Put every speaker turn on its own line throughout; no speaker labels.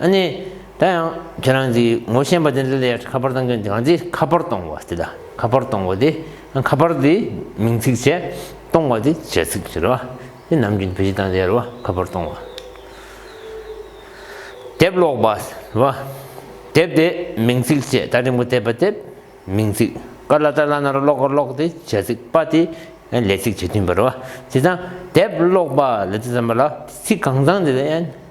ཨ་ནི། ད་ཡང་ཁྱེད་རང་གིས་ངོ་ཤེས་པ་དེ་འདི་ལས་ཁ་པར་གཏང་གི་འདུག་གང་ཚེ་ཁ་པར་གཏོང་བ་དེ་དང་ཁ་པར་གཏོང་བ་དེ་ཁ་པར་དེ་མིང་ཚིག་བྱས་གཏོང་བ་དེ་བྱས་ཚིག་ཟེར་བ་དེ་ནམ་རྒྱུན་བོད་སྤྱི་དང་ཟེར་བ་ཁ་པར་གཏོང་བ། དེབ་ཀློག་པ་ཟེར་བ་དེབ་དེ་མིང་ཚིག་བྱས་བལྟ་རིང་པོ་བལྟས་པ་དེབ་མིང་ཚིག་དཀར་ལ་དཀར་ལ་ནར་གློག་གར་གློག་དེ་བྱས་ཚིག་དཔའ་དེ་ལས་ཚིག་བྱས་མཐུན་པར་བ་དེ་དང་དེབ་ཀློག་པ་ལ་དེ་ཙམ་པ་ལ་ཚིག་གང་ཚང་དེ་ལ་ཡན།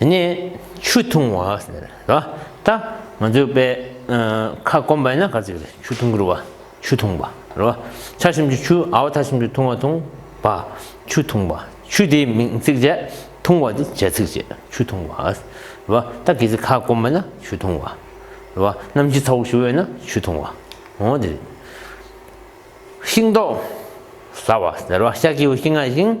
ནས་ཆུ་འཐུང་བ། ད་ང་ཚོས་དཔེ་ཁ་སྐོམ་པ་ཡིན་ན་ག་ཚོད་རེད་ཆུ་འཐུང་གི་རུ་བ་ཆུ་འཐུང་བ་རུ་བ་ཆ་ཤོམ་གྱི་ཆུ་ཨའོ་ཐ་ཤོམ་གྱི་འཐུང་བ་འཐུང་བ་ཆུ་འཐུང་བ་ཆུ་དེའི་མིང་ཚིག་བྱས་འཐུང་བ་དེ་བྱེད་ཚིག་བྱས་ཆུ་འཐུང་བ་རུ་བ་ད་གི་ཚེ་ཁ་སྐོམ་པ་ན་ཆུ་འཐུང་བ་རུ་བ་གནམ་གྱི་ཚ་བོ་ཞུ་བས་ན་ཆུ་འཐུང་བ་འོ་དེ་རེད། ཤིང་ཏོག་ཟ་བ་ཟེར་བ་ཤ་ཁྱི་བོ་ཤིང་ང་ཤིང།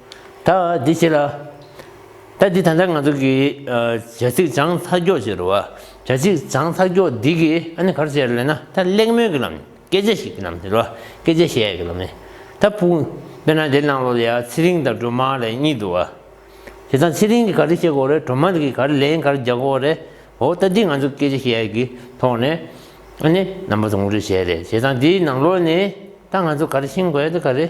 ད་འདི་ཅི་ལ། ད་འདི་ད་ལྟ་ང་ཚོ་གི་བྱ་ཚིག་སྦྱང་མཐའ་འཁྱོག་བྱེད་རུ་བ། བྱ་ཚིག་སྦྱང་མཐའ་འཁྱོག་འདི་གི་ཨ་ནི་གར་བྱེད་ར་ལེ་ན་ད་གླེང་མོལ་གི་ལམ་ནས་སྐད་ཆ་ཞིག་གི་ལམ་ནས་རུ་བ་སྐད་ཆ་བཤད་གི་ལམ་ནས་ད་ཕུག་དཔེར་ན་འདིར་གནང་ལོ་ལ་ཡ་ཚེ་རིང་དང་སྒྲོལ་མ་ལས་གཉིས་འདུག་བ། དེ་དང་ཚེ་རིང་གི་ག་རེ་བཤད་གོ་རེ་སྒྲོལ་མ་གི་ག་རེ་ལན་ག་རེ་རྒྱག་གོ་རེ་འོ་ད་འདི་ང་ཚོ་སྐད་ཆ་བཤད་གི་ཐོག་ནས་ཨ་ནི་རྣམ་པ་དང་ངོ་སྤྲོད་བྱས་རེ་བྱས་དང་འདིའི་ནང་ལོ་ནས་ད་ང་ཚོ་ག་རེ་ཤེས་དགོས་ད་ག་རེ།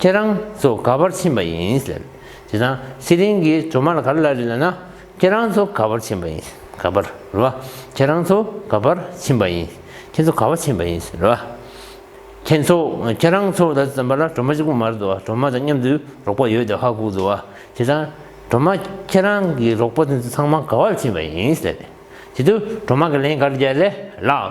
ཁྱེད་རང་ཚོ་ག་བར་ཕྱིན་པ་ཡིན། དེ་དང་ཚེ་རིང་གིས་གྲོ་མར་ག་རེ་ལ་རེ་ལ་ན། ཁྱེད་རང་ཚོ་ག་བར་ཕྱིན་པ་ཡིན། ག་བར། རེད་བ། ཁྱེད་རང་ཚོ་ག་བར་ཕྱིན་པ་ཡིན། ཁྱེད་ཚོ་ག་བར་ཕྱིན་པ་ཡིན། རེད་བ། ཁྱེད་ཚོ། ཁྱེད་རང་ཚོ་ད་ཙམ་པ་ལ་གྲོ་མ་གཅིག་པུ་མ་རེད་དོ། གྲོ་མ་དང་མཉམ་དུ་རོགས་པ་ཡོད་དེ་ཧ་གོ་དོ། དེ་དང། གྲོ་མ། ཁྱེད་རང་གི་རོགས་པ་དེ་ཚོ་ཚང་མ་ག་བར་ཕྱིན་པ་ཡིན། དེ་དུས་གྲོ་མ་གི་ལན་ག་རེ་རྒྱག་རེད་ལགས།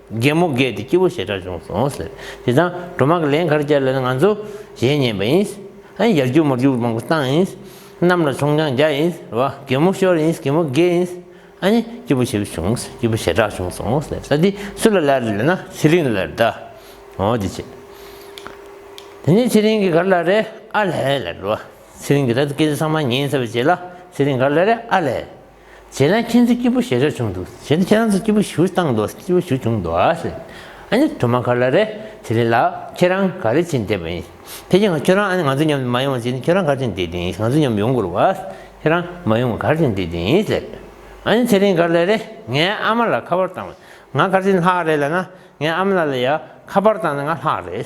རྒན་མོ་རྒས་ཏེ་སྐྱིད་པོ་ཞེ་དྲག་བྱུང་སོང་ཟེར། དེ་དང་སྒྲོལ་མ་གིས་ལན་ག་རེ་བརྒྱབ་ལ་ནི་ང་ཚོ་གཞས་ཉན་པ་ཡིན། ཨ་ཡར་རྒྱུག་མར་རྒྱུག་མང་པོ་བཏང་ཡིན། གནམ་ལ་མཆོང་རྐྱང་རྒྱག་ཡིན། བ་རྒན་མོ་ཤོར་ཡིན་རྒན་མོ་རྒས་ཡིན། ཨ་ནི་སྐྱིད་པོ་ཞེ་པོ་བྱུང་སྐྱིད་པོ་ཞེ་དྲག་བྱུང་སོང་ཟེར་ས་འདི་སུ་ལ་ལར་ལེན་ན་ཚེ་རིང་ལར་གདའ། འོ་དེ་བྱས། དེ་ནས་ཚེ་རིང་གིས་ག་རེ་ལ་རེ་ཨ་ལས་ལ་རེ་བ། ཚེ་རིང་གིས་ད་དུ་སྐད་ཆ་ཚང་མ་ཉན་ཟེར་བ་བྱས་ལ་ཚེ་རིང་ག་རེ་ལ་རེ་ཨ་ལས། ཁྱེད་རང་ཁྱེད་ཚོའི་སྐྱིད་པོ་ཞེ་དྲག་བྱུང་འདུག་ཁྱེད་རང་ཚོའི་སྐྱིད་པོ་ཞུ་བཏང་འདུག་སྐྱིད་པོ་ཞུ་བྱུང་འདུག་ཨ་ནི་དུ་མ་ག་ལ་རེད་དེ་རེད་ལགས་ཁྱེད་རང་ག་རེ་བྱེད་འདས་པ་ཡིན་དེ་ཁྱེད་རང་ཨ་ནི་ང་ཚོ་མཉམ་དུ་མ་ཡོང་བྱེད་འདས་ཁྱེད་རང་ག་རེ་བྱེད་འདས་ཡིན་ང་ཚོ་མཉམ་ཡོང་དགོས་རེད་ཁྱེད་རང་མ་ཡོང་ག་རེ་བྱེད་འདས་ཡིན་ཟེར་ཨ་ནི་དེ་རིང་ག་ལ་རེད་ངའི་ཨ་མ་ལ་ཁ་པར་བཏང་བས་ང་ག་རེ་ལྷག་རེད་ལ་ན་ངའི་ཨ་མ་ལ་ལ་ཡང་ཁ་པར་བཏང་ན་ང་ལྷག་རེད།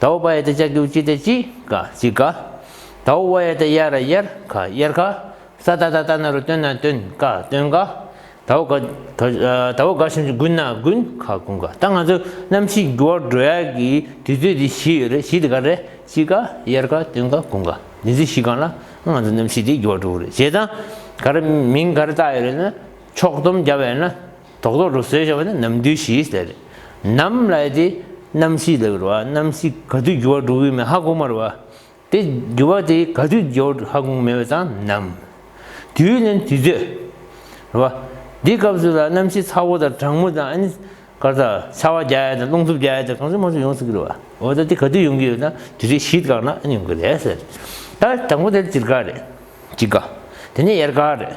དྭོགས་པ་ཡ་ཏི་ཅག་གིའུ་ཅི་ཏེ་ཅི་ཀ་ཅི་ཀ། དྭོགས་བ་ཡ་ཏི་ཡ་ར་ཡར་ཁ་ཡར་ཁ། ས་ཏྭ་ཏྭ་ཏྭ་ན་རུ་ཏོན་ན་ཏོན་ཀ་ཏོན་ཀ། དྭོགས་ག་དྭོགས་ག་ཤིན་ཅི་གུན་ན་གུན་ཁ་གུན་ཀ། ད་ང་ཚོ་གནམ་གཤིས་འགྱུར་བ་འགྲོ་ཡག་གི་དུས་ཚོད་དེ་བཞི་ཡོད་རེད་བཞི་དེ་ག་རེད་ཅི་ཀ་ཡར་ཁ་ཏོན་ཀ་གུན་ཀ་དེ་ཚོད་བཞི་གང་ལ་ང་ཚོ་གནམ་གཤིས་དེ་འགྱུར་བ་འགྲོ་གི་རེད་བྱས་ཙང་ག་རེ་མིང་ག་རེ་བཏགས་ཡོད་རེད་ན་ཕྱོགས་བསྡོམས་བརྒྱབ་ཡོད་ན། དོག་དོག་རུ་ཟོས་ཞེས་པ་ནི་ནམ་དུས་ཞེས་ཟེར། ནམ་ལ་ཡོད་དེ། རྣམ་ཤེས་ལས་གྱུར་བ་རྣམ་ཤེས་ག་དུས་འགྱུར་བ་འགྲོ་གི་མེད་ཧ་གོ་མ་རུ་བ། དེ་འགྱུར་བ་དེ་ག་དུས་འགྱུར་བ་ཧ་གོ་མེད་པ་དང་ནམ། དུས་ལན་དུས་ཚོད། རུ་བ། འདི་སྐབས་སུ་ལ་རྣམ་ཤེས་ཚ་བོ་དང་གྲང་མོ་དང་ཨ་ནི། སྐར་དང་ཚ་བ་བརྒྱ་ཡས་དང་རླུང་འཚུབ་བརྒྱ་ཡས་དང་གང་ཚུད་མང་ཚུད་ཡོང་སྲིད་ཀྱི་རུ་བ། འོ་ད་དེ་ག་དུས་ཡོང་གི་ཡོད་ན་དུས་ཚོད་གཞིས་བཀག་ན་ཨ་ནི་ཡོང་གི་རེད་ཟེར། ད་དང་པོ་དེར་སྤྱིར་སྐར་རེད། དཔྱིད་ཀ། དེ་ནས་ཡར་སྐར་རེད།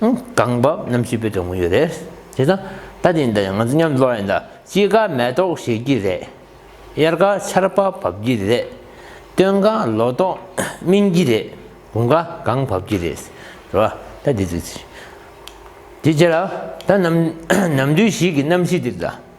གང་བབས་རྣམ་ཤེས་པའི་དོན་ངོ་ཡོད་རེད་དེ་ད་ལྟ་དེ་འདྲ་ཡང་ང་ཚོ་མཉམ་འགྲོ་ཡིན་ད་དཔྱིད་ཀ་མེ་ཏོག་བཞད་ཀྱི་རེད་དབྱར་ཀ་ཆར་པ་བབས་ཀྱི་རེད་སྟོན་ཀ་ལོ་ཏོག་སྨིན་གྱི་རེད་དགུན་ཀ་གངས་བབས་ཀྱི་རེད་ཟེར་བ་ད་དེ་ཚོ་ཅི་རེད་དེ་རྗེས་ལ་ད་ནམ་དུས་ཤིག་གི་རྣམ་ཤེས་དེ་ད།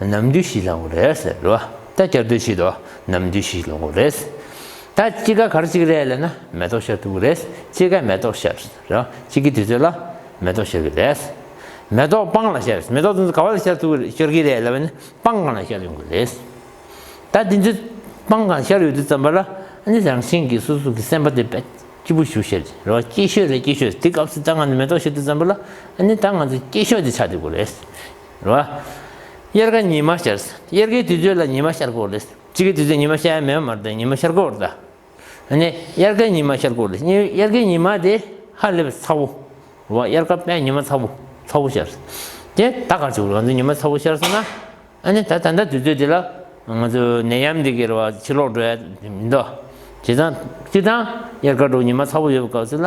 ནམ་དུས་ཤིག་ལོངས་རེད་ཟེར་རོ། ད་སྐྱར་དུས་ཤིག་འདུག་ནམ་དུས་ཤིག་ལོངས་རེད། ད་དཔྱིད་ཀ་གར་ཅིག་རེད་ལབ་ན་མེ་ཏོག་ཤར་འདུག་རེད། དཔྱིད་ཀའི་མེ་ཏོག་ཤར་ཟེར་རོ། དཔྱིད་ཀའི་དུས་ཚོད་ལ་མེ་ཏོག་ཤར་གྱི་རེད། མེ་ཏོག་སྤང་ལ་ཤར་མེ་ཏོག་དེ་ཚོ་ག་བ་ལ་ཤར་འདུག་ཤར་གྱི་རེད་ལབ་ན་སྤང་གང་ལ་ཤར་ཡོང་གི་རེད། ད་དེ་ཚོས་སྤང་གང་ཤར་ཡོད་དུས་བརྩམས་པ་ལ་ནི་རང་བཞིན་གྱིས་སོ་སོ་གི་སེམས་པ་དེ་དཔྱིད་པོ་ཞུ་ཤར་ཟེར་རོ། དཔྱིད་ཤོད་རེད་དཔྱིད་ཤོད་དེ་སྐབས་སུ་ད་ང་ཚོས་མེ་ཏོག་ཤར་འདུག་བརྩམས་པ་ལ་ནི་ད་ང་ཚོས་དཔྱིད་ཤོད་དེ་ཆགས་འདུག་གི་རེད། རེད། རེད་བ། དབྱར་ཁ་ཉི་མ་ཤར། དབྱར་ཁའི་དུས་ཚོད་ལ་ཉི་མ་ཤར་སྐོར་རེད། དཔྱིད་ཀའི་དུས་ཚོད་ཉི་མ་ཤར་ཡ་མེད་མ་རེད་ཉི་མ་ཤར་སྐོར་རེད། ཨ་ནི་དབྱར་ཁའི་ཉི་མ་ཤར་སྐོར་རེད། དབྱར་ཁའི་ཉི་མ་དེ་ཧ་ལས་པའི་ཚ་བོ། རེད་བ། དབྱར་ཁ་པས་ཉི་མ་ཚ་བོ་ཚ་བོ་ཤར། དེ་ད་ག་ཚོད་ང་ཚོ་ཉི་མ་ཚ་བོ་ཤར་སོང་ན། ཨ་ནི་ད་ད་ལྟ་དུས་ཚོད་དེ་ལ་ང་ཚོ་ནད་ཡམས་འདི་གའི་རེད་བ་ཕྱིར་ལོག་འགྲོ་ཡ་མི་འདུག། བྱས་ཙང་བྱས་ཙང་དབྱར་ཁ་དྲོ་ཉི་མ་ཚ་བོ་ཡོད་པའི་སྐབས་སུ་ལ་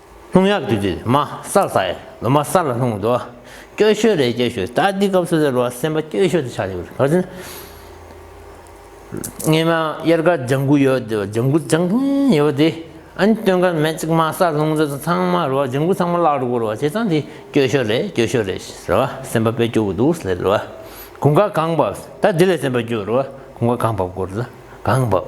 ལྷུང་ཡབ་དུས་དུས་མ་སར་བཟའ། ལོ་མ་སར་ལ་ལྷུང་བཟློག། སྐྱོ་ཤོས་རེད་སྐྱོ་ཤོས་ད་འདི་སྐབས་སོ་སོའི་རོ་སེམས་པ་སྐྱོ་ཤོས་དུ་ཆགས་ཡོད་རེད་བར་དུ། སྔས་མ་གཡེར་ཁ་ལྗང་གུ་ཡོད་དེ་ལྗང་གུ་ལྗང་ཐིང་ཡོད་དེ། ཨན་སྟོན་ཁ་མེད་ཅིག་མ་སར་ལྷུང་བཟློག་ཚང་མ་རོ་ལྗང་གུ་ཚང་མ་བརླག་འགྲོ་གི་རེད་བ་བྱས་ཙང་འདི་སྐྱོ་ཤོས་རེད་སྐྱོ་ཤོས་རེད་ཟེར་བ་སེམས་པ་དཔེ་སྐྱོ་གི་འདུག་ཟེར་བ། གུང་ཁ་གང་བབས་ད་འདི་ལས་སེམས་པ་སྐྱོ་རུ་བ་གུང་ཁ་གང་བབས་སྐོར་ད་གང་བབས།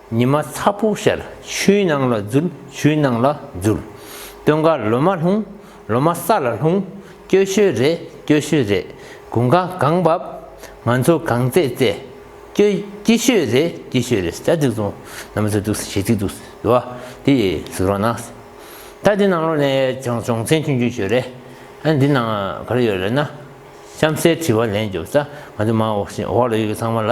ཉི་མ་ཚ་པོ་ཤར་ཆུའི་ནང་ལ་འཛུལ་ཆུའི་ནང་ལ་འཛུལ། སྟོན་ཁར་ལོ་མ་ལྷུང་ལོ་མ་ས་ལ་ལྷུང། སྐྱོ་ཤོས་རེད་སྐྱོ་ཤོས་རེད་དགུན་ཁ་གང་བབ། ང་ཚོ་གང་བཙས་བཙས། སྐྱོ་སྐྱིད་ཤོས་རེད་སྐྱིད་ཤོས་རེད་ཟ་འགྲིག་འདུག་ནམ་ཟ་འདུག་ཟས་འགྲིག་འདུག་ཟེར་བ་དེ་ཟིག་རོགས་གནང། ད་འདི་ནང་ལོགས་ནས་ཅོང་ཅོང་ཚན་ཆུང་ཆུང་ཞུ་རེད། ཨ་འདི་ནང་ག་རེ་ཡོད་རེད་ན། གཤམ་གསལ་དྲི་བ་ལན་བརྒྱབ་ས་ང་ཚོ་མ་འོག་ལ་ཡོད་མཁན་ཚང་མ་ལ་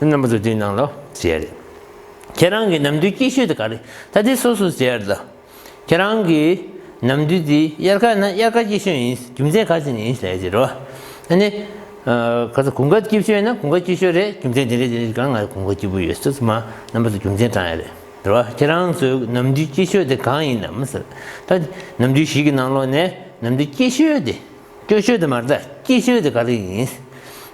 རྣམ་པ་ཚོ་དེའི་ནང་ལ་བྱས་རེད། ཁྱེད་རང་གི་ནམ་དུས་སྐྱིད་ཤོས་དེ་ག་རེད་ད་ལྟའི་སོ་སོ་བྱས་རེད། ཁྱེད་རང་གི་ནམ་དུས་དེ་དབྱར་ཁ་ན་དབྱར་ཁ་སྐྱིད་ཤོས་ཡིན་རྒྱུ་མཚན་ག་ཚད་ནས་ཡིན་ཞེས་ཟེར་རོ། ཨ་ནི། ག་ཚོད་གུང་ཁ་སྐྱིད་ཤོས་ན་གུང་ཁ་སྐྱིད་ཤོས་རེད་རྒྱུ་མཚན་དེ་རེད་དེ་རེད་ཀྱང་ང་གུང་ཁ་སྐྱིད་པོ་ཡོད་ཟེར་ཚུལ་མ་རྣམ་པ་ཚོ་རྒྱུ་མཚན་དྲངས་ཡོད་རེད་ཟེར་རོ། ཁྱེད་རང་ཚོའི་ནམ་དུས་སྐྱིད་ཤོས་དེ་གང་ཡིན་ནམ་ཟེར། ད་ནམ་དུས་ཞིག་གི་ནང་ལོགས་ནས་ནམ་དུས་སྐྱིད་ཤོས་དེ། སྐྱོ་ཤོས་དེ་མ་རྩ་སྐྱིད་ཤོས་དེ་ག་རེ་ཡིན།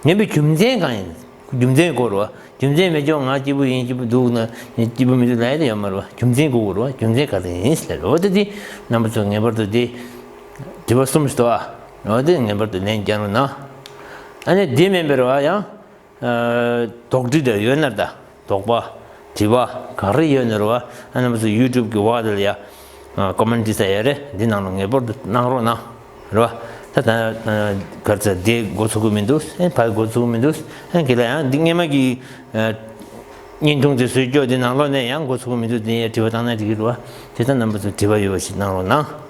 ངན་པའི་རྒྱུ་མཚན་གང་ཡིན། རྒྱུ་མཚན་གོ་རུ་བ། རྒྱུ་མཚན་མེད་ཀྱང་ང་སྐྱིད་པོ་ཡིན་སྐྱིད་པོ་འདུག་ན་སྐྱིད་པོ་མི་འདུག་ལད་ཡ་ཡོད་མ་རུ་བ་རྒྱུ་མཚན་གོ་རུ་བ་རྒྱུ་མཚན་ག་རེ་ཡིན་ཟེར་ལོ་དེ་དུས་རྣམ་པ་ཚོས་ངེས་པར་དུ་དེ་དྲི་བ་གསུམ་ཞིག་དོ་ཨ། ལོ་དེ་ངེས་པར་དུ་ལན་བསྐྱལ་རུ་ན། ཨ་ནི་དེ་མིན་པའི་རུ་བ་ཡང་དོགས་འདྲི་དེར་ཡོད་ནར་ད་དོགས་པ་དྲི་བ་ག་རེ་ཡོད་ནོར་བ་རྣམས་སུ YouTube གི་བར་དུ་ཡ Comment འབྲི་ས་ཡ་རེ་འདི་ནང་ལ་ངེས་པར་དུ་གནང་རོགས་གནང་རོགས་ཨ་ད་ད་གར་ཚ་དེ་འགོ་ཚུགས་ཀྱི་མི་འདུག་ཨེ་ཕ་འགོ་ཚུགས་ཀྱི་མི་འདུག་ཨེ་གི་ལ་ཡང་འདི་སྔས་མ་གི་བརྙན་ཐུང་དེ་སུས་སྐྱོ་འདི་ནང་ལོག་ནས་ཡང་འགོ་ཚུགས་ཀྱི་མི་འདུག་དེ་ཡ་དྲི་བ་གཏང་ན་འགྲིག་གི་རོ་ཨ་དེ་ད་རྣམས་པ་ཚོ་དྲི་བ་ཡོད་པ་ཞིག་གནང་རོགས་གནང།